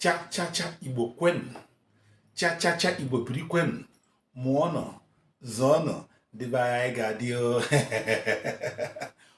chachacha igbo kwenu chachacha igbo biri kwenu mụọnụ zụọnụ ndị be anyị ga-adị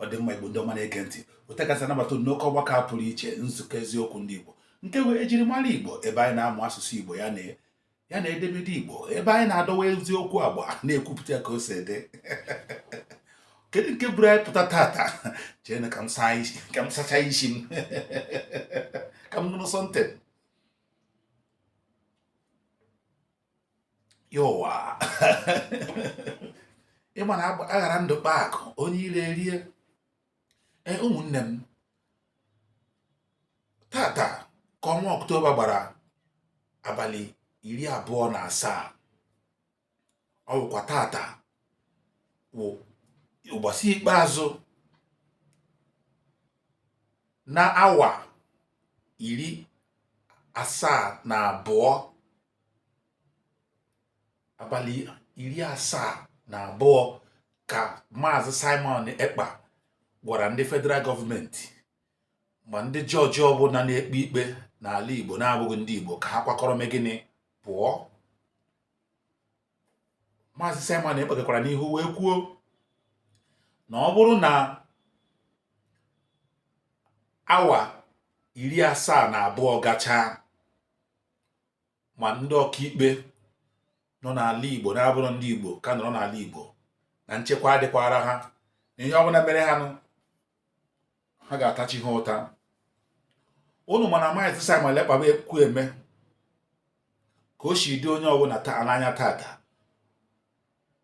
ọ dị mma igbo ndị ọma na-ege ntị otu kasị anabata n'oke ọgbakọ a pụrụ iche nzukọ eziokwu ndị igbo nke wụ ejirimara igbo ebe anyị na-amụ asụsụ igbo ya na ya na edemede igbo ebe anyị na-adọwa eziokwu agba na-ekwupụta ka o si dị kedu nke buru anyị pụta tata chee na ka m sacha isi m ka m ṅụrụ something yowa ị ma na a ghara ndụ kpaa akụ onye iro erie ee ụmụnne m tata ka ọnwa ọktoba gbara abalị iri abụọ na asaa ọ bụkwa tata wụ ụbọchị ikpeazụ n'awa iri asaa na abụọ abalị iri asaa na abụọ ka maazị simon ekpa gwara ndị federal gọọmenti ma ndị jọji ọbụla na-ekpe ikpe n'ala igbo na-abụghị ndị igbo ka ha kwakọrọ mee gịnị pụọ maazị simon ekpa gakwara n'ihu wee kwuo na ọ bụrụ na awa iri asaa na abụọ gachaa ma ndị ọkaikpe nọ n'ala Igbo na-abụrọ ndị Igbo ka nọrọ n'ala Igbo na nchekwa adịkwara ha na ihe ọbụla mere ha nụ ha ga-ata chi ha ụta unu ma na maazị Simon Ekpa bụ ekwu eme ka o si dị onye ọbụla n'anya tata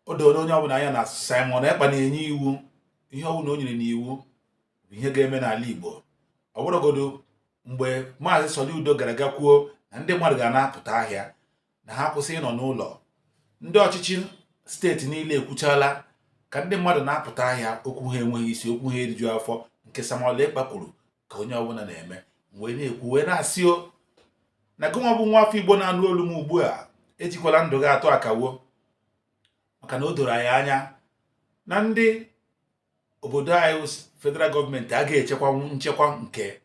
o doro onye ọbụla anya na Simon Ekpa na-enye iwu ihe ọbụla o nyere n'iwu bụ ihe ga-eme n'ala Igbo ọ bụrụgodu mgbe maazị Soludo gara ga kwuo na ndị mmadụ ga na-apụta ahịa na ha kwụsị ịnọ n'ụlọ ndị ọchịchị steeti niile ekwuchala ka ndị mmadụ na-apụta ahịa okwu ha enweghị isi okwu ha eriju afọ nke Simon Ekpa kwuru ka onye ọbụla na-eme wee na-ekwu wee na-asị o na gịnwa bụ nwa afọ Igbo na-anụ olu m ugbu a ejikwala ndụ gị atụ akawo maka na o doro anyị anya na ndị obodo anyị wụ federal gọọmenti a ga-echekwanwu nchekwa nke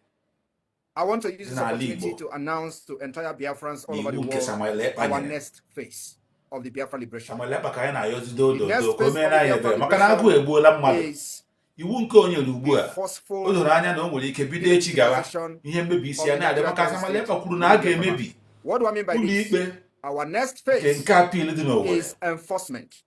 I want to use this N'ala opportunity Igbo. to announce to entire Biafrans all over the iwu nke world Simon our Ekpa nyere next phase of the Biafra liberation Simon Ekpa ka anyị na-ayọzi The odo next odo ka o phase meere of anyị the ebere maka na agụụ egbuola mmadụ is iwu nke o nyere ugbu a the o forceful doro anya na o nwere ike bido echi gawa militarization. ihe mmebi isi ya na-adị maka Simon Ekpa kwuru na a ga-emebi What do I mean by ụlọ this? ikpe Our next nke phase nke appeal dị n'Owerri is enforcement.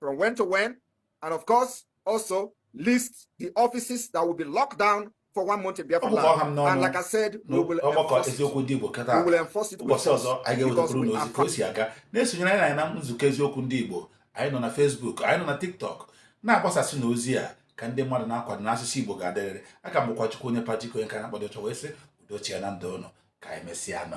from when to when, and of course, also list the offices that will be locked down for one month in Biafra land. And like I said, we will enforce it. We will enforce it. Ụbọchị ọzọ anyị ga-ewetapụrụ unu ozi ka o si aga na-esonyere anyị na nzukọ eziokwu ndị Igbo anyị nọ na Facebook anyị nọ na TikTok na-agbasasịnụ ozi a ka ndị mmadụ na-akwado na asụsụ Igbo ga-adịrịrị a ka m bụkwa Chukwuonye Patrick onye ka na-akpọdụ ọchọ wee sị udo chịa na ndụ ụnụ ka e mesịanụ